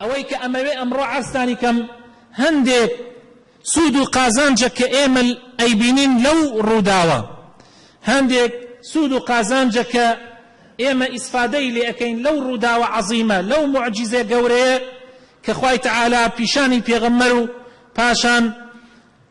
ئەوەی کە ئەمەوێ ئەمڕۆ عەرزتانی کەم هەندێک سوود و قازانجە کە ئێمە ئەیبینین لەو ڕووداوە هەندێک سوود و قازانجە کە ئێمە ئیسفادەی لێ ئەکەین لەو ڕووداوە عەزیمە لەو موعجیزە گەورەیە کە خوای تەعالا پیشانی پێغەمبەر و پاشان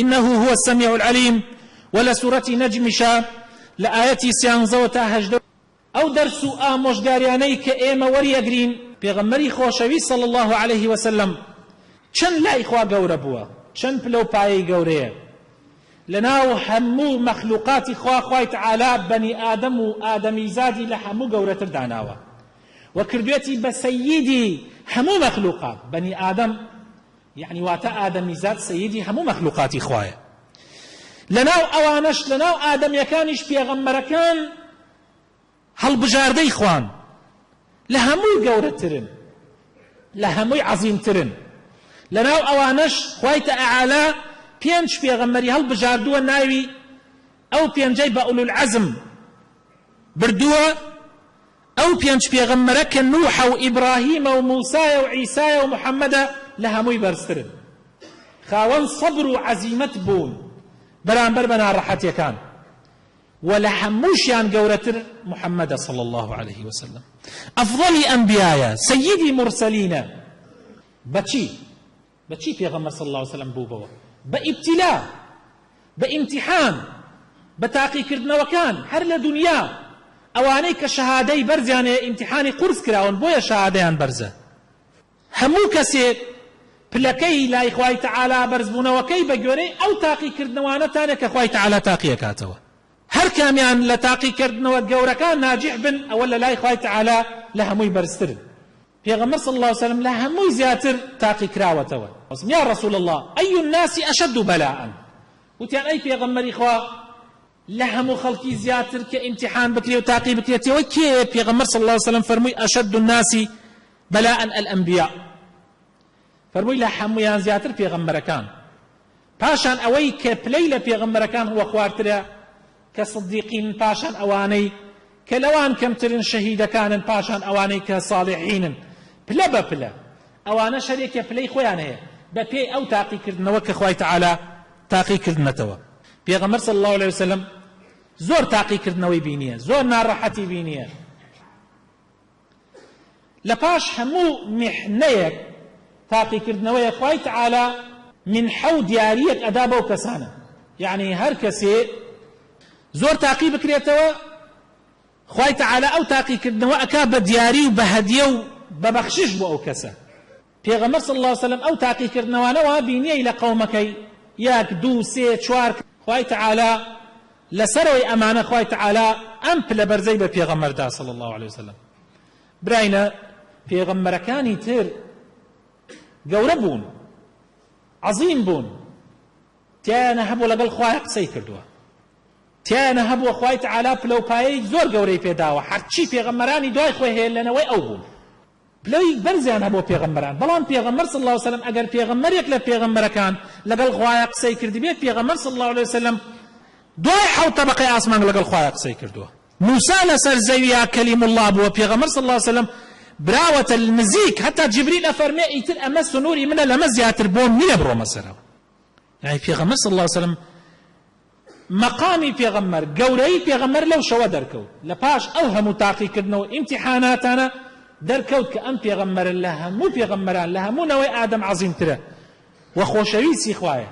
انه هو السمیع العلیم وە لە سورەتی نەجمیشە لە ئایەتی سیانزەوە تا هەژدە. ئەو دەرس و ئامۆژگاریانەی کە ئێمە وەریەگرین. پێغەمبەری خۆشەویست صلی اللە علیه و سلم چەند لای خوا گەورە بووە چەند پلە و پایەی گەورەیە لەناو هەموو مەخلوقاتی خوا خوای تعالی بەنی ئادەم و ئادەمیزادی لە هەموو گەورەتر داناوە و کردوێتی بە سەییدی هەموو مەخلوقات بەنی ئادەم یەعنی واتە ئادەمیزاد سەییدی هەموو مەخلوقاتی خوایە لەناو ئەوانەش لەناو ئادەمیەکانیش پێغەمبەرەکان هەڵبژاردەی خوان لە هەمووی گەورەترن لە هەمووی عەزیمترن لەناو ئەوانەش خوای تەعالا پێنج پێغەمبەری هەڵبژاردووە ناوی ئەو پێنجەی بە ئولولعەزم بردووە ئەو پێنج پێغەمبەرە کە نوحە و ئیبراهیمە و موسایە و عیسایە و محەمەدە لە هەمووی بەرزترن خاوەن سەبر و عەزیمەت بوون بەرامبەر بە ناڕەحەتیەکان وە لە هەمووشیان گەورەتر محەمەدە صلی اللە علیە وسلم ئەفضەلی ئەنبیایە سەیدی مورسەلینە بەچی؟ بە چی پێغەمبەر صلی اللە علیە وسلم بووبەوە بە ئیبتیلا بە ئیمتیحان بە تاقیکردنەوەکان هەر لە دونیا ئەوانەی کە شەهادەی بەرزیان هەیە ئیمتیحانی قورس کراون بۆیە شەهادەیان بەرزە هەموو کەسێک پلەکەی لای خوای تەعالا بەرزبوونەوەکەی بە گوێرەی ئەو تاقیکردنەوانەتانە کە خوای تەعالا تاقی ئەکاتەوە هەر کامیان لە تاقیکردنەوە گەورەکان ناجیح بن ئەوە لە لای خوای تەعالا لە هەمووی بەرزترن پێغەمبەر صلی اللە علیە وسلم لە هەمووی زیاتر تاقیکراوەتەوە، وتم، یا رسول اللە ای الناس اشد بلاء، وتیان، ئەی پێغەمبەری خوا لە هەموو خەڵکی زیاتر کە ئیمتیحان بکرێ و تاقی بکرێتەوە کێیە؟ پێغەمبەر صلی اللە علیە وسلم فەرمووی، اشد الناس بلاء الانبیاء، فەرمووی لە هەموویان زیاتر پێغەمبەرەکان، پاشان ئەوەی کە پلەی لە پێغەمبەرەکان ڕووەخوارترە کە صدیقینن پاشان ئەوانەی کە لەوان کەمترن شەهیدەکانن پاشان ئەوانەی کە صاڵحینن پلە بە پلە ئەوانەش هەر یەکێ پلەی خۆیان هەیە بە پێی ئەو تاقی کردنەوە کە خوای تەعالا تاقی کردنەتەوە پێغەمبەر صلی اللە علیە وسلم زۆر تاقی کردنەوەی بینیە زۆر ناڕەحەتی بینیە. لە پاش هەموو میحنەیەک تاقیکردنەوەیە خوای تعالی منحە و دیاریەک ئەدا بەو کەسانە یەعنی هەر کەسێ زۆر تاقی بکرێتەوە خوای تعالی ئەو تاقیکردنەوە ئەکا بە دیاری و بە هەدیە و بە بەخشش بۆ ئەو کەسە. پێغەمبەر صلی اللە وسلم ئەو تاقیکردنەوانە وا بینیەی لە قەومەکەی یەک دوو سێ چوار کە. خوای تەعالا لەسەرەوەی ئەمانە خوای تەعالا ئەم پلە بەرزەی بە پێغەمبەر دا صلی اللە علیە وسلم براینە پێغەمبەرەکانی تر گەورە بوون عەزیم بوون تیایانە هەبوو لەگەڵ خوای قسەی کردووە تیایانە هەبووە خوای تەعالا پلە و پایەی زۆر گەورەی پێداوە هەرچی پێغەمبەرانی دوای خۆی هەیە لەنەوەی ئەو بوون پلەی بەرزیان هەبووە پێغەمبەران بەڵام پێغەمبەر صلی اللە علیە وسلم ئەگەر پێغەمبەرێک لە پێغەمبەرەکان لەگەڵ خوایا قسەی کردبێت پێغەمبەر صلی اللە علیە وسلم دوای حەوت تەبەقەی ئاسمان لەگەڵ خوایا قسەی کردووە موسی لەسەر زەویا کلیم اللە بووە پێغەمبەر صلی اللە علیە وسلم براوەتە نزیک هەتا جبریل ئەفەرمێ ئیتر ئەمە سنوری منە لەمە زیاتر بۆم نییە بڕۆمە سەرەوە یانی پێغەمبەر صلی اللە علیە وسلم مەقامی پێغەمبەر، گەورەیی پێغەمبەر لەو شەوە دەرکەوت، لە پاش ئەو هەموو تاقیکردنەوە و ئیمتیحاناتانە دەرکەوت کە ئەم پێغەمبەرە لە هەموو پێغەمبەران، لە هەموو نەوەی ئادەم عەزیمترە و خۆشەویستی خوایە،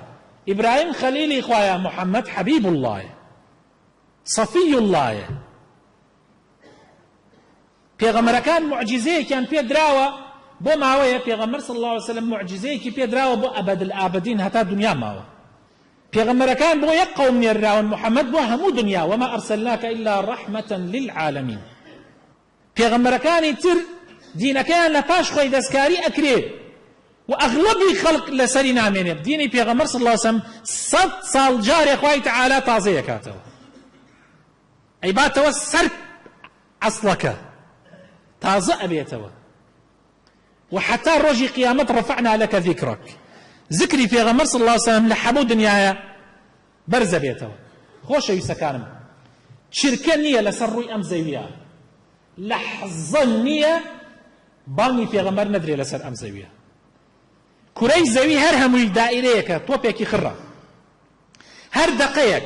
ئیبراهیم خەلیلی خوایە، محەمەد حەبیب اللە یە، صەفی اللە یە. پێغەمبەرەکان موعجیزەیەکیان پێ دراوە بۆ ماوەیە پێغەمبەر صلی الله علیه وسلم موعجیزەیەکی پێ دراوە بۆ ئەبەد الآبدین هەتا دنیا ماوە پێغەمبەرەکان بۆ یەک قەوم نێرراون محمد بۆ هەموو دنیا وما ارسلناک الا رحمة للعالمین پێغەمبەرەکانی تر دینەکەیان لە پاش خۆی دەستکاری ئەکرێت و ئەغلبی خەڵک لەسەری نامێنێت دینی پێغەمبەر صلی الله علیه وسلم سەد ساڵ جارێ خوای تعالی تازەیەکاتەوە ئەیباتەوە سەر ئەسڵەکە تازە ئەبێتەوە و حتا ڕۆژی قیامەت ڕەفعنا لەکە ذیکرەک زکری پێغەمبەر صلی اللە وسلم لە حەموو دنیایە بەرزە بێتەوە خۆشەویستەکانم چرکە نییە لەسەر ڕووی ئەم زەویە لەحزە نییە بانگی پێغەمبەر نەدرێ لەسەر ئەم زەویە کورەی زەوی هەر هەمووی دائیرەیەکە تۆپێکی خڕە هەر دەقەیەک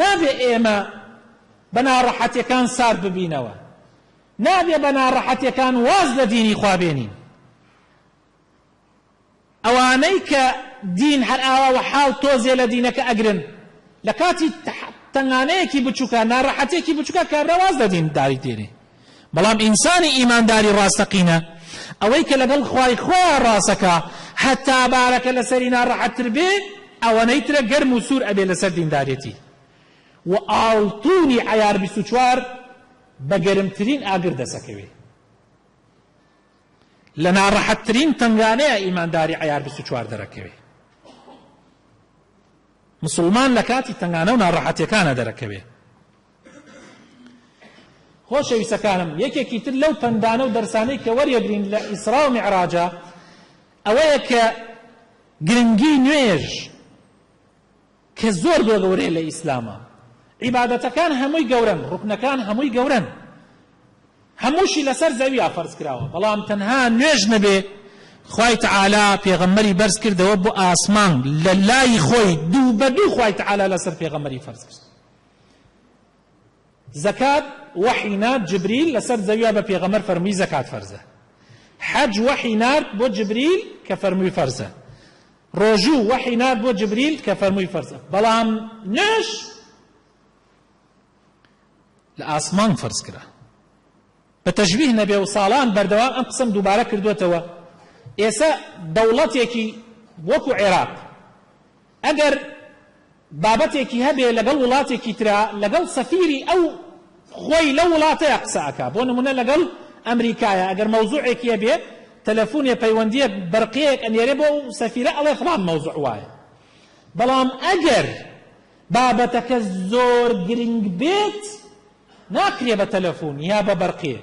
نابێ ئێمە بە ناڕەحەتیەکان سارد ببینەوە، نابێ بە ناڕەحەتیەکان واز لە دینی خوا بێنین. ئەوانەی کە دین هەر ئاوا وەحاڵ تۆزێ لە دینەکە ئەگرن، لە کاتی تەنگانەیەکی بچوکە، ناڕەحەتیەکی بچوکە کابرا واز لە دین داری دێنێ. بەڵام ئینسانی ئیمانداری ڕاستەقینە ئەوەی کە لەگەڵ خوای خۆیان ڕاسەکا هەتا بارەکە لەسەری ناڕەحەتتر بێ ئەوەنەی ترە گەرم و سوور ئەبێ لەسەر دیندارێتی و ئاڵتوونی عەیار بیست و چوار بە گەرمترین ئاگر دەسەکەوێ لە ناڕەحەتترین تەنگانەیە ئیمانداری عەیار بیست و چوار دەرەکەوێ مسلمان لە کاتی تەنگانە و ناڕەحەتەکانە دەرەکەوێ خۆشەویستەکانم یەکێکی تر لەو پەندانە و دەرسانەی کە وەریەگرین لە ئیسرا و میعراجە ئەوەیە کە گرنگی نوێژ کە زۆر بۆ گەورەیە لە ئیسلامە عیبادەتەکان هەمووی گەورەن ڕوکنەکان هەمووی گەورەن هەمووشی لەسەر زەویا فەرز کراوە بەڵام تەنها نوێژ نەبێ خوای تعالا پێغەمەری بەرز کردەوە بۆ ئاسمان لە لای خۆی دوو بە دوو خوای تعالا لەسەر پێغەمەری فەرز کرد زەکات وەحی نارد جبریل لەسەر زەویا بە پێغەمبەر فەرموی زەکات فەرزە حەج وەحی نارد بۆ جبریل کە فەرموی فەرزە ڕۆژوو وەحی نارد بۆ جبریل کە فەرموی فەرزە بەڵام نوێش لە ئاسمان فەرز کرا بە تەشبیه نەبێ و ساڵان بەردەوام ئەم قسەم دووبارە کردووەتەوە، ئێسە دەوڵەتێکی وەکوو عێراق ئەگەر بابەتێکی هەبێ لەگەڵ وڵاتێکی ترا لەگەڵ سەفیری ئەو خۆی لەو وڵاتەیا قسە ئەکا بۆ نموونە لەگەڵ ئەمریکایا ئەگەر مەوزووعێکی هەبێ تەلەفوونێ پەیوەندییەک بەرقیەیەک ئەنێرێ بۆ ئەو سەفیرە ئەڵێ فڵان مەوزووع وایە بەڵام ئەگەر بابەتەکە زۆر گرینگ بێت ناکرێ بە تەلەفون یا بە بەرقێ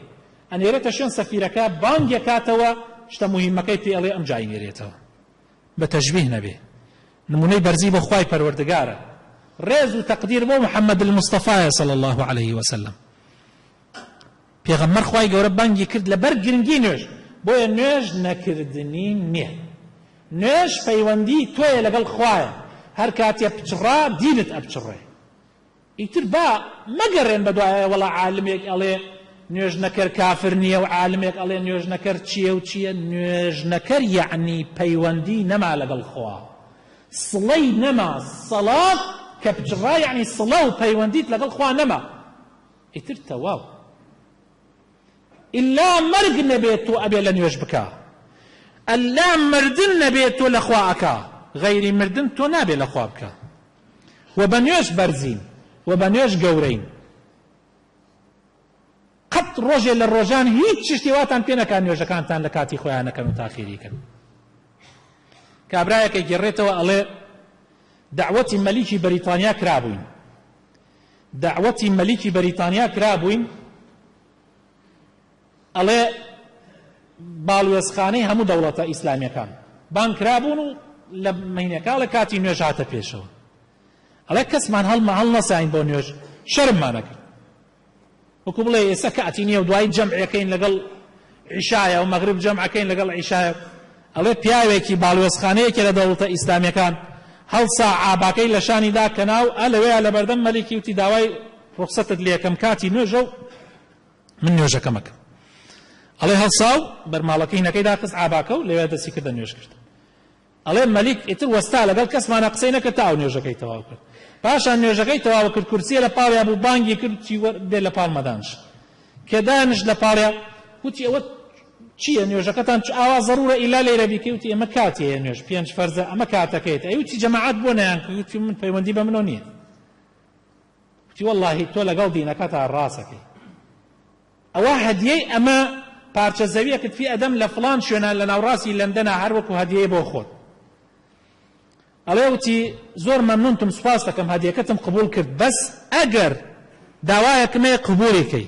ئەنێرێتە شوێن سەفیرەکە بانگ یەکاتەوە شتە موهیمەکەی پێ ئەڵێ ئەمجا ئەینێرێتەوە بە تەشبیه نەبێ نمونەی بەرزی بۆ خوای پەروەردگارە ڕێز و تەقدیر بۆ محمد المصطفی صلی الله علیه وسلم پێغەمبەر خوای گەورە بانگی کرد لەبەر گرنگی نوێژ بۆیە نوێژ نەکردنی نییە نوێژ پەیوەندی تۆیە لەگەڵ خوایە هەر کاتێ پچڕا دینت ئەپچڕێ ئیتر با مەگەڕێن بە دوای ئەوە وەڵا عالمێک ئەڵێ نوێژنەکەر کافر نییە و عالمێک ئەڵێ نوێژنەکەر چییە و چییە، نوێژنەکەر یەعنی پەیوەندی نەما لەگەڵ خوا، سڵەی نەما، سەڵا کە پچڕا یەعنی سڵە و پەیوەندیت لەگەڵ خوا نەما ئیتر تەواو ئیلا مەرگ نەبێ تۆ ئەبێ لە نوێژ بکا، ئەللا مردن نەبێ تۆ لە خوا ئەکا، غەیری مردن تۆ نابێ لە خوا بکا. و بە نوێژ بەرزین و بە نوێژ گەورەین قەت ڕۆژێ لە ڕۆژان هیچ شتێ واتان پێ نەکات نوێژەکانتان لە کاتی خۆیان نەکەن و تاخیری کەن کابرایەکە گێڕێتەوە ئەڵێ دعوەتی مەلیکی بەریتانیا کرابووین دعوەتی مەلیکی بەریتانیا کرابووین ئەڵێ باڵوێزخانەی هەموو دەوڵەتە ئیسلامیەکان بانگ کرابوون و لە مەینەکە ئەڵێ کاتی نوێژ هاتە پێشەوە ئەڵێ کەسمان هەڵمە هەڵ نەساین بۆ نوێژ شەرممانەکرد وەکو بڵێ ئێستا کاتی نییە و دوای جەمعەکەین لەگەڵ عیشایە و مەغرب جەمعەکەین لەگەڵ عیشایە ئەڵێ پیاوێکی باڵوێزخانەیەکی لە دەوڵەتە ئیسلامیەکان هەڵسا عاباکەی لە شانی دا کەناو ئە لەوەیە لە بەردەم مەلیکی وتی داوای ڕوخسەتت لێکەم کاتی نوێژە و من نوێژەکەم ئەکەم. ئەڵێ هەڵسا و بەرماڵەکەی هینەکەی داخست عاباکە و لەوێ دەستی کردە نوێژکردن. ئەڵێ مەلیک ئیتر وەستا لەگەڵ کەسمانا قسەی نەکرد تا ئەو نوێژەکەی تەواو کرد. پاشان نوێژەکەی تەواو کرد کورسییە لە پاڵیا بوو بانگی کرد وتی وەر دێ لە پاڵمە دانشە. کە دانشت لە پاڵیا وتی ئەوە چییە نوێژەکەتان چ ئاوا زەڕوورە ئیلا لەیرە بیکەی وتی ئێمە کاتی هەیە نوێژ پێنج فەرزە ئەمە کاتەکەیەتی ئەی وتی جەماعەت بۆ نەیانکرد وتی من پەیوەندی بە منەوە نییە. گوتی وەڵاهی تۆ لەگەڵ دینەکەتا ڕاسەکەی ئەوە هەدیەی ئەمە پارچە زەویەکت فی ئەدەم لە فلان شوێنە لە ناوڕاستی لەندەنا هەر وەکو هەدیەی بۆ خۆت ئەڵێ وتی زۆر مەمنونتم سوپاس دەکەم هەدیەکەتم قبول کرد بەس ئەگەر داوایەکمەیە قبولی کەی